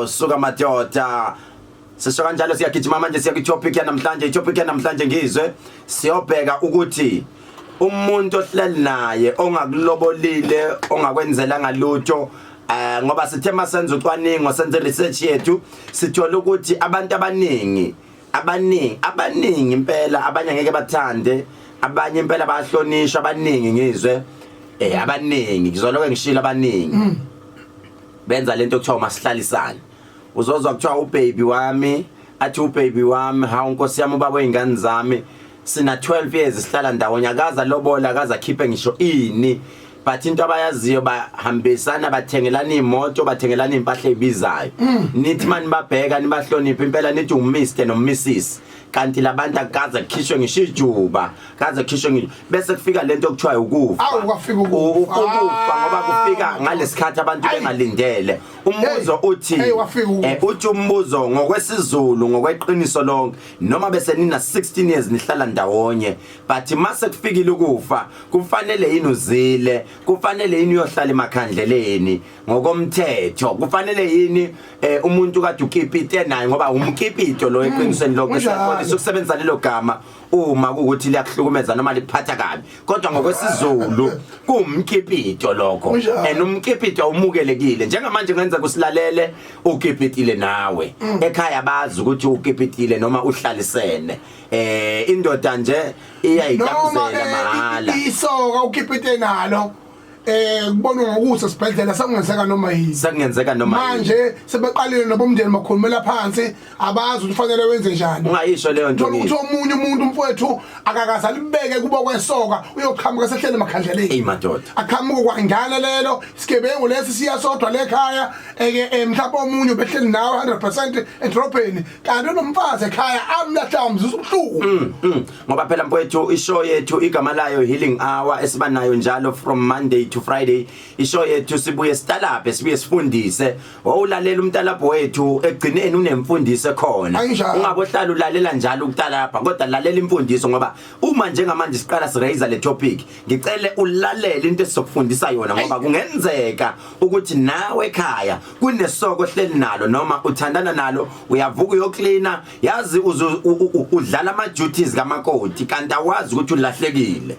suka madoda sisho kanjalo siyagijima manje siya kwi-topic yanamhlanje i-topic yanamhlanje ngizwe siyobheka ukuthi umuntu ohleli naye ongakulobolile ongakwenzela ngalutho eh ngoba sithe masenza ucwaningo senze research yethu sithola ukuthi abantu abaningi abaningi abaningi impela abanye ngeke bathande abanye impela bayahlonishwa abaningi ngizwe eh abaningi ngizoloke ngishilo abaningi mm. benza lento okuthiwa masihlalisane uzozwa kuthiwa ubaby wami athi ubaby wami hawu nkosi yami ubaba oyingane zami sina 12 years sihlala ndawonye akaza lobola akaza khiphe ngisho ini but into abayaziyo bahambisana bathengelana imoto bathengelana impahla ezibizayo mm. nithi mani babheka nibahloniphe impela nithi uMr noMrs kanti labantu akaze kukhishwe ngisho ijuba kaze kukhishwe ngisho bese kufika lento okuthiwa ukufa Awu, kwafika ukufa. ukufa ngoba kufika ngalesikhathi abantu Ayi. bengalindele umbuzo Hey, uthi hey, wafika ukufa. eh, uthi umbuzo ngokwesizulu ngokweqiniso lonke noma bese nina 16 years nihlala ndawonye but mase kufikile ukufa kufanele yini uzile kufanele yini uyohlala emakhandleleni ngokomthetho kufanele yini eh, umuntu kade ukipite naye ngoba umkipito lo eqinisweni lokho Kunjalo. siyakholisa ukusebenzisa lelo gama uma kuwukuthi liyakuhlukumeza noma likuphatha kabi kodwa ngokwesizulu kuwumkipito lokho Kunjalo. and umkipito umukelekile njengamanje ngenza kusilalele ukipitile nawe ekhaya bazi ukuthi ukipitile noma uhlalisene eh indoda nje noma iyayitabuzela mahhala ke isoka ukhiphe into enalo eh kubonwa ngokuthi esibhedlela sakungenzeka noma yini sakungenzeka noma yini manje sebeqalile nobomndeni bakhulumela phansi abazi ukuthi ufanele wenze njani ungayisho leyo nto ukuthi omunye umuntu umfowethu akakaze alibeke kuba kwesoka uyoqhamuka sehlele emakhandleleni ey madoda aqhamuka kwangana lelo isigebengu lesi siya sodwa lekhaya eke eh, mhlawumbe omunye ubehleli nawe 100% edrobheni kanti nomfazi ekhaya amlahlwa umzuzu ubuhlungu mm, mm. ngoba phela mfowethu ishow yethu igama layo healing hour esiba nayo njalo from monday to friday ishow yethu sibuye sitalaphe sibuye sifundise wawulalela umtalapho wethu egcineni unemfundiso khona ungabohlala ulalela njalo ukutalapha kodwa lalela imfundiso ngoba uma njengamanje siqala siraise le topic ngicele ulalele into esizokufundisa yona ngoba kungenzeka ukuthi nawe ekhaya kunesoko hleli nalo noma uthandana nalo uyavuka uyoklina yazi udlala ama duties kamakoti kanti awazi ukuthi ulahlekile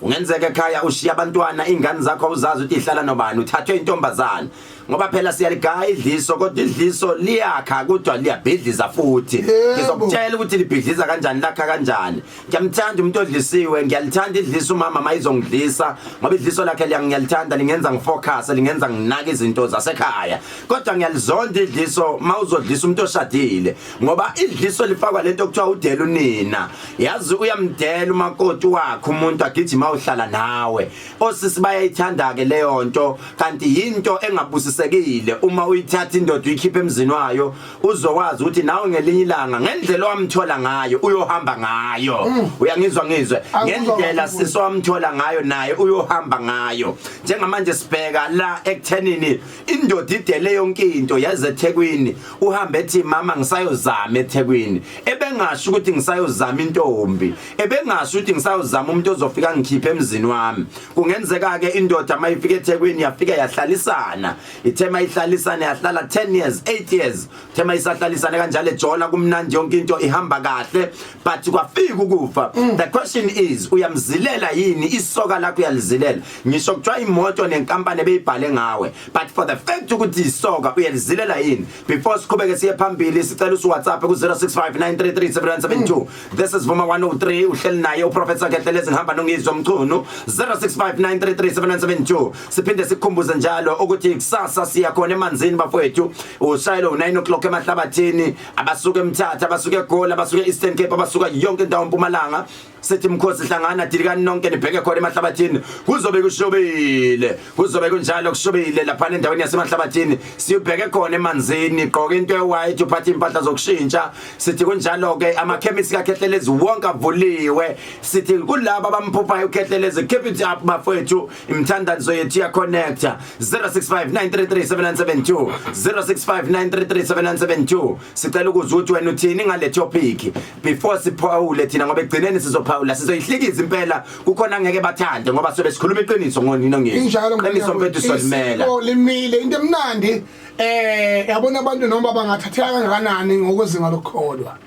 ungenzeka ekhaya ushiya abantwana ingane zakho awuzazi ukuthi ihlala nobani uthathwe intombazana ngoba phela siyaligaya idliso kodwa idliso liyakha kodwa liyabhidliza futhi ngizokutshela ukuthi libhidliza kanjani lakha kanjani ngiyamthanda umuntu odlisiwe ngiyalithanda idlisa umama mayizongidlisa ngoba idliso lakhe liyangiyalithanda lingenza ngifocus lingenza nginake izinto zasekhaya kodwa ngiyalizonda idliso mawuzodlisa umuntu oshadile ngoba idliso lifakwa lento okuthiwa udela unina yazi uyamdela umakoti wakhe umuntu agijima uhlala nawe osisi bayayithanda ke leyo nto kanti yinto engabusisekile uma uyithatha indoda uyikhiphe emzini wayo uzokwazi ukuthi nawe ngelinye ilanga ngendlela owamthola ngayo uyohamba ngayo mm. uyangizwa ngizwe ngendlela sisi owamthola ngayo naye uyohamba ngayo njengamanje sibheka la ekuthenini indoda idele yonke into yaze ethekwini uhambe ethi mama ngisayozama ethekwini ebengasho ukuthi ngisayozama intombi ebengasho ukuthi ngisayozama umuntu ozofika ngikhiphe emzini wami kungenzeka-ke indoda uma ifika ethekwini yafika yahlalisana ithe mayihlalisane yahlala 10 years 8 years ithe mayisahlalisane kanjalo ejola kumnandi yonke into ihamba kahle but kwafika ukufa mm. the question is uyamzilela yini isoka lakho uyalizilela ngisho kuthiwa imoto nenkampani ebeyibhale ngawe but for the fact ukuthi isoka uyalizilela yini before siqhubeke siye phambili sicela usu WhatsApp ku 0659337172 This is Vuma 103 uhleli naye uProphet Sakhehlele ezihamba nongizwa mchunu 0659337972 siphinde sikhumbuze njalo ukuthi kusasa siya khona emanzini bafowethu ushayelo u9 o'clock emahlabathini abasuke emthatha abasuke eGoli abasuke Eastern Cape abasuka yonke indawo eMpumalanga sithi mkhosi hlangana dilikani nonke nibheke khona emahlabathini kuzobe kushobile kuzobe kunjalo kushubile laphana endaweni yasemanhlabathini siyubheke khona emanzini gqoka into ewhite uphathe impahla zokushintsha sithi kunjalo ke amakhemisi kakhehlelezi wonke avuliwe sithi kulabo abamphuphayo ukhehlelezi keep it up bafethu imthandazo yethu ya connect 0659337972 0659337972 sicela ukuzwa ukuthi wena uthini ngale topic before siphawule thina ngoba egcineni sizophawula sizoyihlikiza impela kukhona ngeke bathande ngoba sobe sikhuluma iqiniso ngonino ngeke injalo qiniso mfethu solimela limile into emnandi eh yabona abantu noma bangathatheka kangakanani ngokwezinga lokukholwa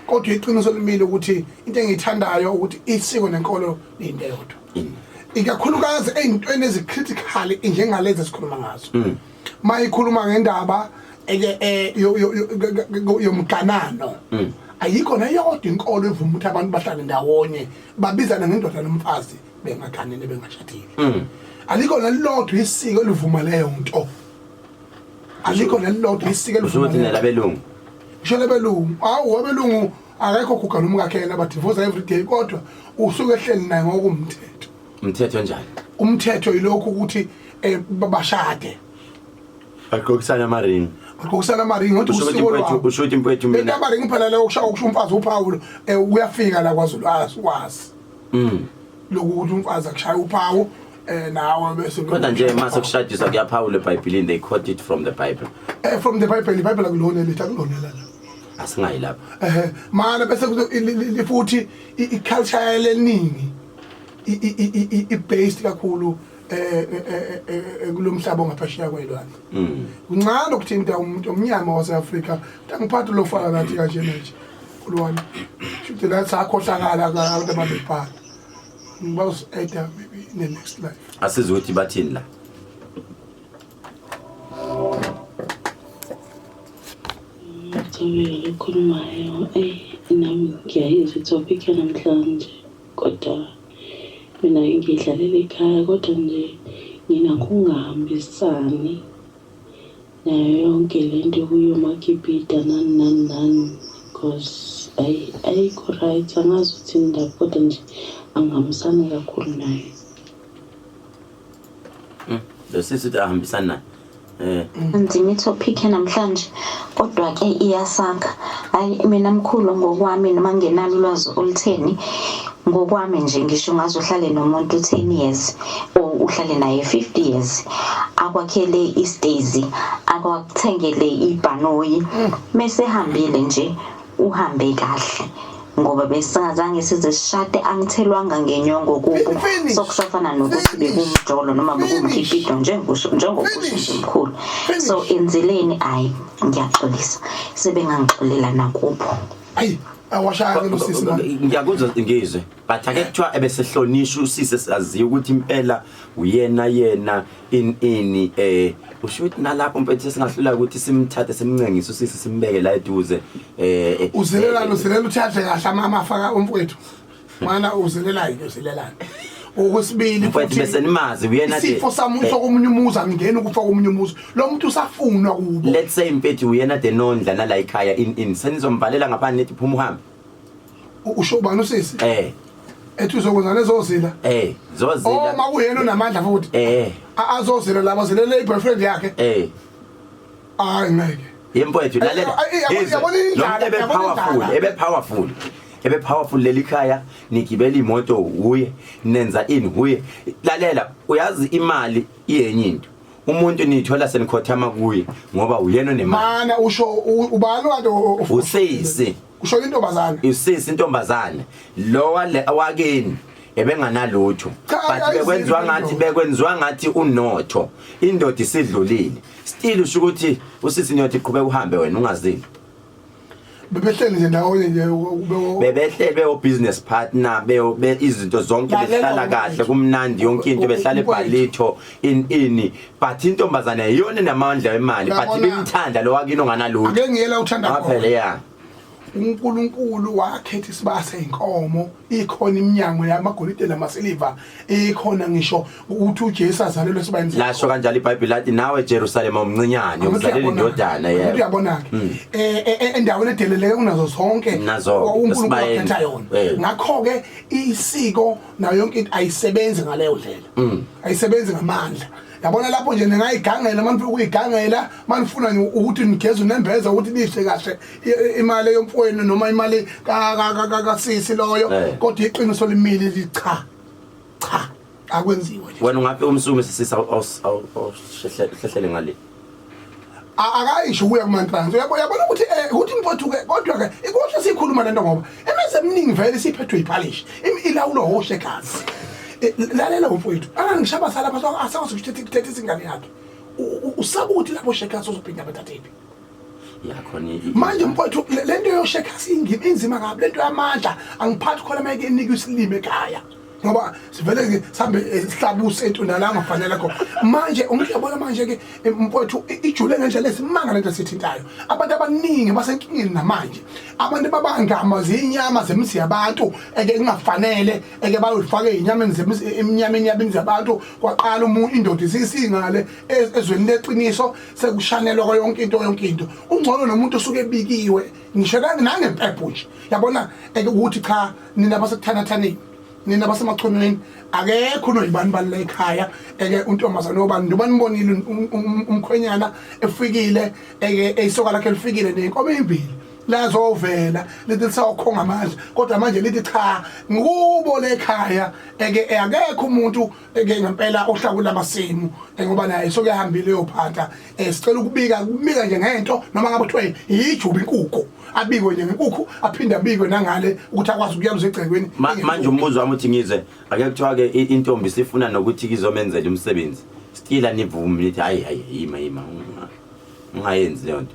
kodwa iqiniso limile ukuthi into engiyithandayo ukuthi isiko nenkolo into eyodwa mm. ikakhulukazi eyintweni ezicritical njengalezi esikhuluma ngazo mm. mayikhuluma ngendaba eh, yomganano mm. ayikho neyodwa inkolo evuma ukuthi abantu bahlale ndawonye babizane ngendoda nomfazi bengaganene bengashadile mm. alikho nelilodwa isiko elivuma leyo nto alikho nelilodwa isiko elivuma leyo nto ngisho labelungu awu wabelungu akekho guga nomkakhe yena badivosa every day kodwa usuke ehleli naye ngokumthetho umthetho njani umthetho ilokhu ukuthi eh, babashade agqokisana amaringi agqokisana amaringi ngothi usho ukuthi usiko impwethu lwabo usho ukuthi impwethu mina intaba ringi phela leyo kusha ukusho umfazi uphawulo eh, uyafika la kwaZulu azi wazi mm lokuthi umfazi akushaya uphawu eh nawe bese kodwa nje uma sekushadiswa kuyaphawula ebhayibhilini they quote it from the bible eh from the bible ibible akulona lithi akulona la asingayi lapho eh mana bese kuthi- i- i- i- futhi i- i-culture yaleningi i-based kakhulu eh, eh, eh, kulomhlaba ongaphesheya kwelwandle mm. kuncane ukuthinta umuntu omnyama waseAfrika angiphathi lo faka kathi kanje manje kulwami shuthi la sakhohlakala abantu ababebhala ngibawus eda maybe in the next life asizothi bathini la Tommy, ukhulumayo, eyi nami ngiyayizwa i-topic yanamhlanje. Kodwa mina ngidlalela ikhaya kodwa nje nginakungahambisani nayo yonke lento yokuya omakipita nani nani nani cause ayi ayikho right angazi uthini ndaba kodwa nje angihambisani kakhulu nayo. Hmm, lo sisi uthi ahambisani naye eh. nzima ithophikhe namhlanje kodwa ke iyasakha hayi mina mkhulu ngokwami noma ngenalo ulwazi olutheni ngokwami nje ngisho ungaze uhlale nomuntu 10 years or uhlale naye 50 years akwakhele istazy akwakuthengele ibhanoyi mesehambile nje uhambe kahle ngoba besingazange size sishade angithelwanga ngenyongo kubo sokusafana nokuthi bekumjolo noma bekumkhipido njengokusho njengokusho nje mkhulu so enzileni ayi ngiyaxolisa sebengangixolela nakubo ayi awashaya ke losisi ngiyakuzwa ngizwe but ake kuthiwa ebesehlonishwa usisi saziyo ukuthi impela uyena yena in ini eh usho ukuthi nalapho mfethu singahlula ukuthi simthathe simncengise usisi simbeke la eduze eh, eh uzilela eh, uzilela uthathe kahle amama afaka umfowethu mana uzilela into uzilela okwesibili mfowethu bese nimazi uyena nje isifo samuntu eh, komunye umuzi angingeni ukufa komunye umuzi lo muntu usafunwa kubo let's say mfethu uyena de nondla nala ekhaya in in senizomvalela ngaphandle nethi phuma uhambe usho ubani usisi eh ethi uzokwenza lezo zila eh zozila oh, uma kuyena unamandla futhi eh azozila laba zilele iboyfriend yakhe eh hayi ngeke yemfowethu lalela yabona indlala ebe powerful ebe powerful ebe powerful leli khaya nigibela imoto uye nenza ini uye lalela uyazi imali iyenye into umuntu niyithola senikhothama kuye ngoba uyena onemali mana usho u- ubani kade o- o- usisi usho intombazane usisi intombazane lo wale wakini ebenganalutho Cha, but ayiziphi bekwenziwa into. ngathi bekwenziwa ngathi unotho indoda isidlulile still usho ukuthi usisi niyothi qhubeka uhambe wena ungazini bebehleli nje ndawonye nje bebehleli bewo business partner bewo be izinto zonke behlala kahle kumnandi yonke into behlala ebhalitho in ini but intombazane yiyona enamandla wemali but bimthanda lo wakini onganalutho ake ngiyela uthanda khona phela ya uNkulunkulu wakhetha isibase inkomo ikhona iminyango yamagolide namasiliva ikhona ngisho ukuthi uJesu azalelwe sibayini lasho kanjalo iBhayibheli lathi nawe Jerusalema umncinyane uzalele indodana yebo uyabona ke hmm. eh, eh, eh, endaweni edeleleke kunazo zonke uNkulunkulu akhetha yona ngakho ke isiko nayo yonke into ayisebenzi ngaleyo ndlela hmm. ayisebenzi ngamandla yabona lapho nje ningayigangela uma nifuna ukuyigangela uma nifuna ukuthi nigeze unembeza ukuthi nidle kahle imali yomfowenu noma imali kasisi loyo kodwa iqiniso limile licha cha akwenziwe wena ungabe umsume sisisa awushehlele ngale akayisho kuya kuma trans uyabona ukuthi eh ukuthi mfowethu ke kodwa ke ikuhle sikhuluma lento ngoba imizi eminingi vele siphethwe iphalish ilawulo hoshe kazi eh, lalela mfowethu angishaba sala baso asawazi ukuthi thatha isingane yakhe usabuthi lapho shekazi uzophinda bathathephi manje mfowethu le nto yoshekha siyingima inzima kabi le nto yamandla angiphathi khona mayeke inikwe isilime ekhaya ngoba sivele sihambe eh, sihlabuse entunda la ngafanele kho manje ungiyabona manje ke eh, mfowethu ijule ngendlela esimanga lento sithintayo abantu abaningi basenkingeni namanje abantu babangama zinyama zemisi yabantu eke kungafanele eke bayifake inyameni zemisi eminyameni yabini zabantu kwaqala umuntu indoda isisingale e-, ezweni leqiniso sekushanelwa kwa yonke into yonke into ungcono nomuntu osuke ebikiwe ngisho nangempepho nje yabona ukuthi cha nina basekuthanathaneni nina basemachonweni akekho unoyibani bani la ekhaya eke untombazane obani njengoba nibonile um, um, umkhwenyana efikile eke eyisoka lakhe lifikile nenkomo eyimbili lazovela lithi lisawukhonga amandla kodwa manje lithi cha ngikubo lekhaya eke akekho umuntu ke ngempela ohlakula amasimu ngoba naye sokuyahambile uyophatha eh sicela ukubika kubika nje ngento noma ngabe kuthiwa yijuba inkukhu abikwe nje ngenkukhu aphinde abikwe nangale ukuthi akwazi ukuyaluza egcekweni manje umbuzo wami uthi ngizwe ake kuthiwa ke intombi sifuna nokuthi kizomenzela umsebenzi stila nivume nithi hayi hayi yima yima ungayenzi leyo nto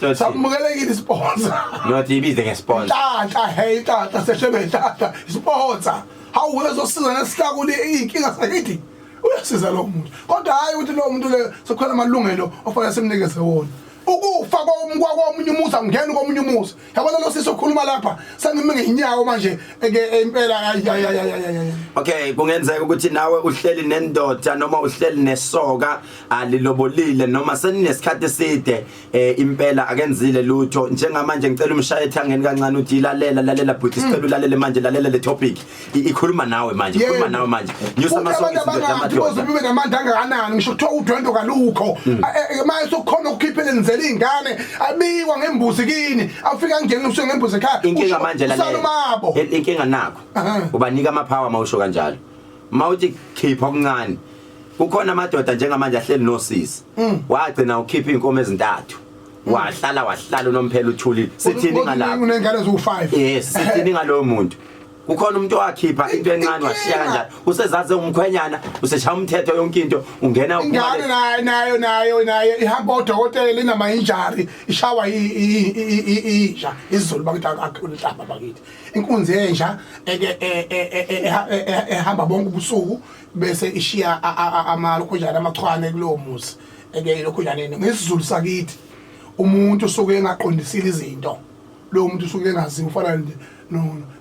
Not Samukelekile isponsor. Not ibize ngesponsor. Tata hey tata sehlebe tata isponsor. Hawu uzosiza nesihlakule inkinga sakithi. Uyasiza lo muntu. Kodwa hayi ukuthi lo muntu le sokhona amalungelo ofanele simnikeze wona. ukufa komunye umuzi angingeni komunye umuzi yabona lo sisi okhuluma lapha sengime ngenyawo manje ke impela okay kungenzeka ukuthi nawe uhleli nendoda noma uhleli nesoka alilobolile noma seninesikhathi eside eh impela akenzile lutho njengamanje ngicela umshaye ethangeni kancane uthi ilalela lalela bhuti mm. sicela ulalele manje lalela le topic ikhuluma nawe manje ikhuluma nawe manje nyusa amasongs ngamadoda ube namandla angakanani ngisho kuthiwa udwendo kalukho mm. eh, eh, eh, maye sokhona ukukhiphela nizela izingane abikwa ngembuzi kini afika ngene usuke ngembuzi ekhaya inkinga manje lalela inkinga nakho ubanika ama power mawusho kanjalo mawuthi khipha okuncane kukhona amadoda njengamanje ahleli nosisi mm. wagcina ukhipha inkomo ezintathu mm. wahlala wahlala unomphela uthulile sithini ngalapho unengane eziwu5 yes sithini ngalowo muntu kukhona umuntu owakhipha into encane washiya kanjalo usezaze umkhwenyana useshaya umthetho yonke into ungena ingane nayo nayo nayo nayo ihamba odokotela inama injury ishawa inja izulu bakithi akulhlamba bakithi inkunzi yenja ehamba bonke ubusuku bese ishiya amalokhunjana amachwane kulowo muzi eke lokhunjaneni ngesizulu sakithi umuntu usuke engaqondisile izinto lowo muntu usuke engazi ufana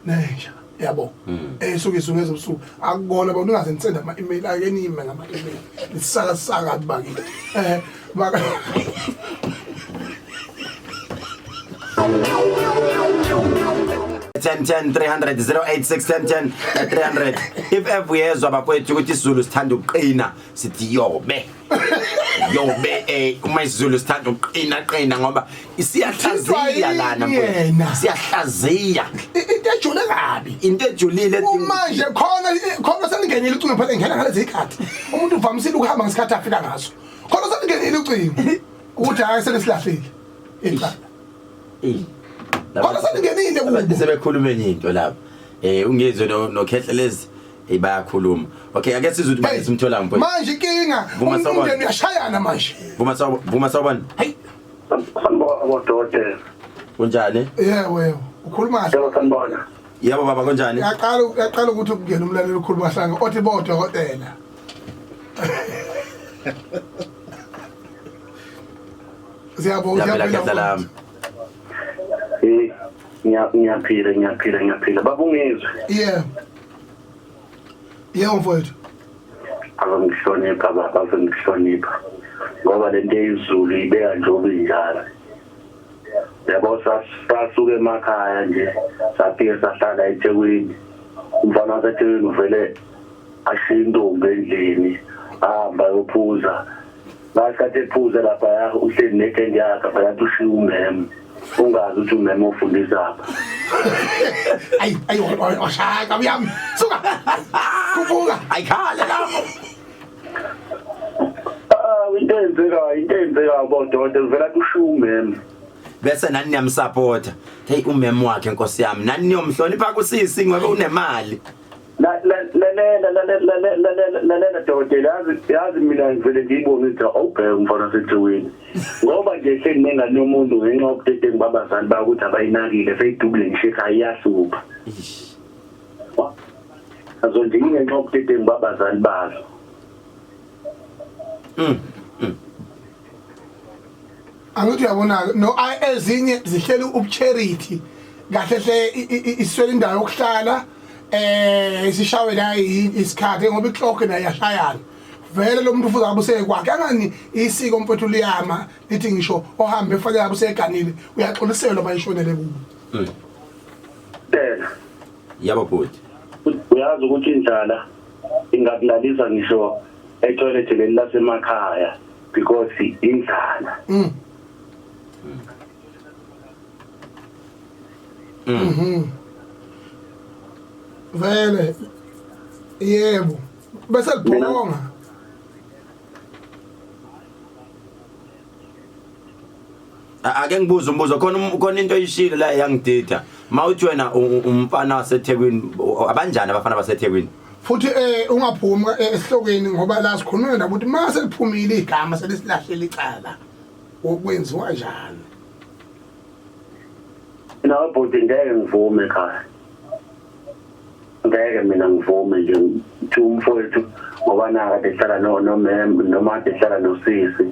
nenja yabo hmm. esuke izungu ezobusuku akukona abantu ungaze nisende ama-email ake nime ngama-email nisakasaka bakithi um eh, ten ten three hundred zero eight six ten ten eh, three hundred if ever uyezwa bakwethu ukuthi isizulu sithanda ukuqina sithi yobe yobe eh uma isizulu sithanda ukuqina qina ngoba siyahlaziya lana mfowethu. siyahlaziya into ejule kabi into ejulile edinga- kumanje khona khona seningenile ucingo phela ngena ngalezi khathi umuntu uvamisile ukuhamba ngesikhathi afika ngaso khona usalingenile ucingo ukuthi hayi selesilahlile icala Eh. khona usalingenile Abantu kubo sebekhuluma enye into lapha. Eh ungizwe no no Khehlelezi eh bayakhuluma. Okay ake sizwe ukuthi bayisa umthola mpho. manje inkinga Vuma um- sawubona. umndeni uyashayana manje Vuma sawu vuma sawubona. Hey Sanibona bodokotela. kunjani? yebo yebo ukhuluma kahle Yebo sanibona. Yebo baba kunjani? uyaqala uyaqala ukuthi ukungena umlaleli ukhuluma kahlanga othi bodokotela Siyabo Ngiyaphila uyaphila khehla lami. Eh, ngiya- ngiyaphila ngiyaphila ngiyaphila babungizwe Yeah. Yeah mfowethu. azongihlonipha baba azongihlonipha ngoba lento eyizulu ibeka nje ubinjalo yabo sas- sasuke emakhaya nje safike sahlala ethekwini umfana wasethekwini uvele asiyintombi endlini ahamba yophuza ngasikhathi ephuza lapha ya uhleli nekendi yakhe phakathi ushiya umeme ungazi ukuthi umeme ofundisa apha ayi ayi washaya kabi yami suka khuphuka ayikhale lapho Ah, into eyenzekayo into eyenzekayo bododa kuvela kushiya umeme bese nani niyamsapota heyi umeme wakhe nkosi yami nani niyomhlonipha kusisi ngoba unemali lalela lalela lalela dokotela yazi yazi mina ngivele ngiyibone ukuthi awubheke umfana osethiwini ngoba nje seningane yomuntu ngenxa yobudedengu babazali bayo ukuthi abayinakile seyidubule ngisho ekhaya iyasupha azonje ngingenxa yobudedengu babazali bazo mm, mm. angithi uyabona-ke no ezinye zihleli ubucharity kahle hle iswele indawo yokuhlala eh isishawe la isikhathi ngoba iclock nayo yashayana vele lo muntu ufuze abuseke kwakhe angani isiko mfowethu liyama lithi ngisho ohambe efanele abuseganile uyaxoliselwa bayishonele kubo hmm. Dela yabo bhuti uyazi ukuthi indlala ingakulalisa ngisho etoilet leli lasemakhaya because indlala mm. Mm. Mhm. Vele. Yebo. Bese libhonga. ake ngibuze umbuzo khona um, khona into oyishilo la yangidida mawuthi wena umfana waseThekwini abanjani abafana baseThekwini futhi eh ungaphumi eh, esihlokweni ngoba la sikhuluma nabo ukuthi mase liphumile igama selisilahlele icala okwenziwa njani Mina ubhuti ngeke ngivume ekhaya ngeke mina ngivume nje ukuthi umfowethu ngoba naka dehlala no nomem noma dehlala nosisi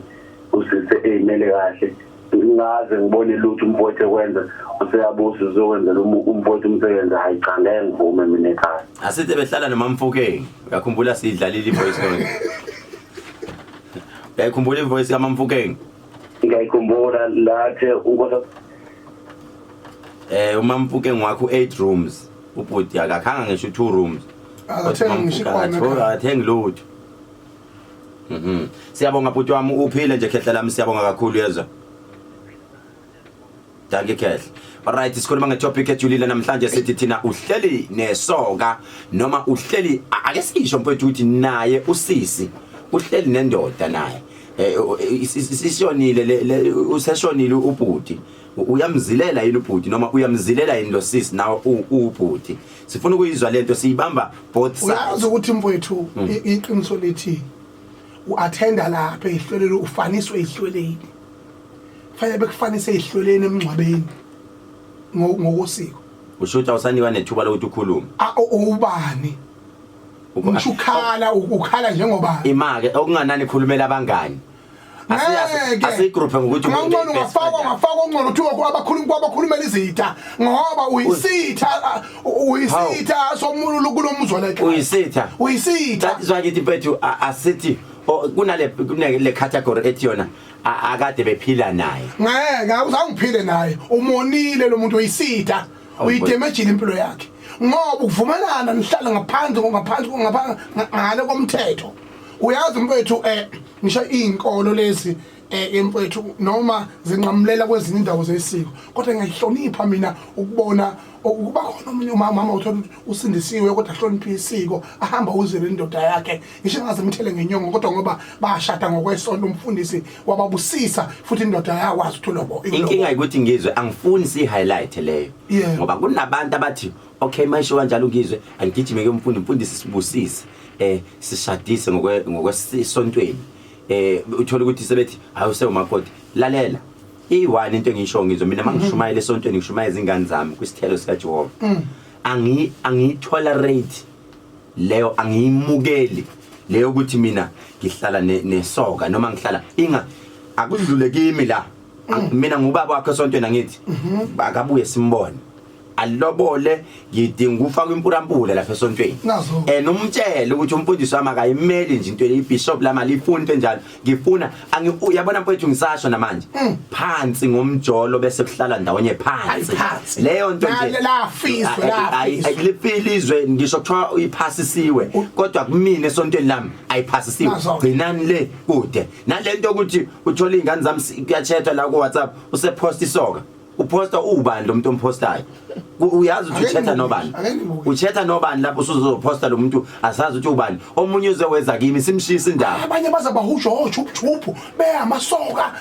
usise eyimele kahle ngaze ngibone lutho umfowethu ekwenza useyabusa uzokwenzela umfowethu umsebenzi hayi cha ngeke ngivume mina ekhaya asithe behlala nomamfokeni uyakhumbula sidlalile ivoice note uyakhumbula ivoice kamamfokeni ngiyayikhumbula lathe ukosa eh umampuke ngwakho 8 rooms ubhuti akakhanga ngisho 2 rooms akathenge ngisho ikhona athengi lutho mhm siyabonga bhuti wami uphile nje khehla lami siyabonga kakhulu yezwa Dankie Khehla. Alright sikhuluma ngetopic ejulile namhlanje sithi thina uhleli nesoka noma uhleli ake sisho mfowethu ukuthi naye usisi uhleli nendoda naye. Eh isishonile le useshonile ubhuti. Uyamzilela yini ubhuti noma uyamzilela yini lo sisi nawe ubhuti. Sifuna ukuyizwa lento siyibamba both sides. Uyazi ukuthi mfowethu hmm. iqiniso lithi uattenda lapha ehlelelo ufaniswe ehlelweni. fanele bekufanise ezihlweleni emngcwabeni ngo- ngokosiko usho ukuthi awusanikwa nethuba lokuthi ukhulume A- u- uwubani ngisho ukhala u- ukhala njengoba imake okunganani khulumela abangani Ngeke. asiyigruphe ngokuthi umuntu ngangcono uyi-best ungafakwa friend. ungafakwa ungcono kuthiwa ku- abakhulumi kwabakhulumela izitha ngoba uyisitha a- u- uyisitha somuntu kulomuzwa la ekhaya. uyisitha uyisitha that is why ngithi mfethu a- asithi o- kunale kunale category ethi yona A- akade bephila naye ngeke awuzange uphile naye umonile lo muntu uyisitha Awu, uyidemejile impilo yakhe ngoba ukuvumelana nihlala ngaphandle ngaphandle ngaphandle ngale komthetho uyazi mfethu eh ngisho izinkolo lezi eh mfethu noma zinqamulela kwezinye indawo zesiko kodwa ngiyahlonipha mina ukubona ukuba khona omunye umama uma uthola ukuthi usindisiwe kodwa ahloniphe isiko ahamba uzele indoda yakhe ngisho engaze mthele ngenyongo kodwa ngoba bashada ngokwesonto umfundisi wababusisa futhi indoda yakwazi ukuthi ulobo inkinga ukuthi ngizwe angifuni si-highlight leyo ngoba kunabantu abathi okay mayisho kanjalo ngizwe angigijime ke umfundi mfundisi sibusise eh sishadise ngokwesontweni eh uthola ukuthi sebethi hayi usewumakoti lalela iyi-one into engiyisho ngizwe mina uma ngishumayela esontweni ngishumayela izingane zami kwisithelo sikajehova angi- angiyitolerate leyo angiyimukeli leyo ukuthi mina ngihlala ne- nesoka noma ngihlala inga akudlule kimi la Ang- mina ngubaba wakhe esontweni angithi akabuye simbone alilobole ngidinga ukufaka impurampura lapha esontweni Nazo. and umtshele ukuthi umfundisi wami akayimeli nje into ibishop lami alifuni into enjalo ngifuna angi u- yabona mfowethu ngisasho namanje phansi ngomjolo bese kuhlala ndawonye phansi Ayi, phansi. leyo nto nje Lale- lafiswa, Ay- ay- ay- lafiswa. lifile izwe ngisho kuthiwa uyiphasisiwe kodwa kumina esontweni lami ayiphasisiwe Nazo. gcinani le kude nale nto yokuthi uthole iy'ngane zami si- kuyatshetha la ku-whatsapp usephosta isoka uposta uwubani lo muntu ompostayo uyazi ukuthi uchetha nobani uchetha nobani lapho usuzoposta lo muntu asazi ukuthi ubani omunye uzeweza kimi simshisa indaba abanye baza bahusho ochuphuphu beyamasoka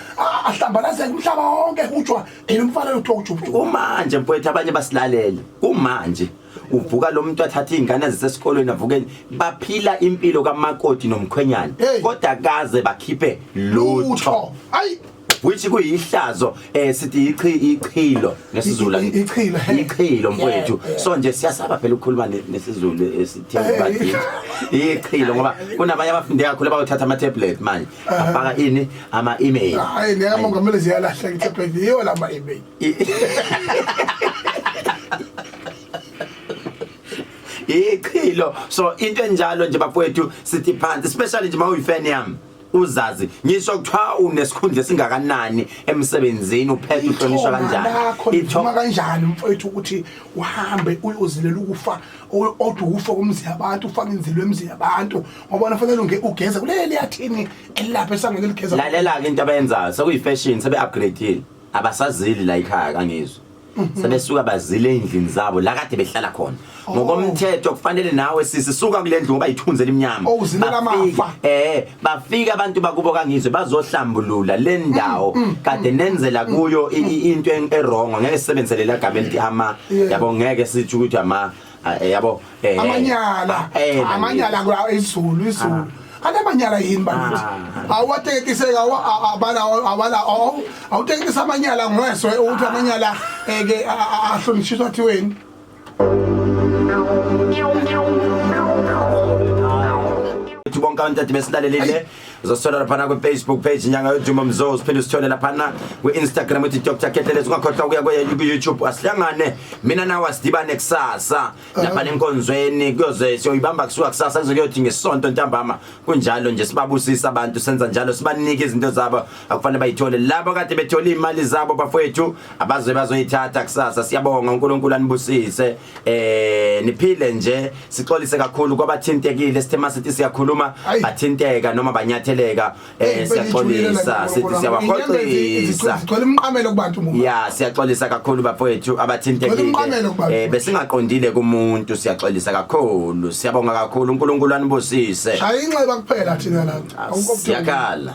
ahlambalazela umhlaba wonke hujwa yena umfana lo uchuphuphu kumanje mfowethu abanye basilalele kumanje uvuka lo muntu athatha izingane zisesikolweni avukeni baphila impilo kamakoti nomkhwenyana kodwa kaze bakhiphe lutho ayi which kuyihlazo eh sithi ichi ichilo nesiZulu I- i- ichilo, he. ichilo mfowethu Yeah, so nje siyasaba phela ukukhuluma ne- nesiZulu eh, esithi bakithi ichilo ngoba kunabanye abafunde kakhulu abawuthatha ama tablet manje afaka ini ama email hayi le kamongameli ziyalahla ngitablet yiyo la ma-email ichilo so into enjalo nje bafowethu sithi phansi especially nje uma uyifan yami uzazi ngisho kuthiwa unesikhundla esingakanani emsebenzini uphethe uhlonishwa kanjani ithoma kanjani mfowethu ukuthi uhambe uyozilela ukufa odwa ukufa komzi yabantu ufake inzilo emzi yabantu ngoba nafanele unge ugeze kuleli yathini elapha esangene ligeza lalela ke into abayenzayo sekuyifashion sebe upgradeile abasazili la ikhaya kangizwe sebesuka bazile endlini zabo la kade behlala khona Oh. ngokomthetho kufanele nawe sisi suka kule ndlu ngoba yithunzi elimnyama Oh, uzilela Bafika- amafa. eh bafika abantu bakubo kangizwe bazohlambulula le Mm, ndawo kade nenzela kuyo i- i- into en- erongo ngeke sisebenzelela gama elithi ama Yeah. yabo ngeke sithi ukuthi ama Ah, eh, yabo eh, amanyala eh, eh, amanyala kwa izulu izulu ah. ana manyala yini bakithi ah. awatekiseka abala abala awutekisa amanyala ngweswe ukuthi amanyala eke ahlonishwa thiweni bonke abantu ade besilalelile uzosithola laphana kwi-facebook page inyanga yodumo mzozi phinde usithole laphana kwi-instagram uthi dr ketelezi ungakhohlwa ukuya kwe-youtube asihlangane mina nawe asidibane kusasa lapha lenkonzweni kuyoze siyoyibamba kusuka kusasa kuze kuyothi ngesonto ntambama kunjalo nje sibabusisa abantu senza njalo sibanike izinto zabo akufanele bayithole labo kade bethole imali zabo bafowethu abazobe bazoyithatha kusasa siyabonga uNkulunkulu anibusise eh niphile nje sixolise kakhulu kwabathintekile sithe masithi siyakhuluma bathinteka noma banyatheleka eh siyaxolisa sithi siyabaxolisa sicela umqamelo kubantu mumuntu ya siyaxolisa kakhulu bafowethu abathintekile eh besingaqondile kumuntu siyaxolisa kakhulu siyabonga kakhulu uNkulunkulu anibusise shaya inxeba kuphela thina la ah, akukho siyakhala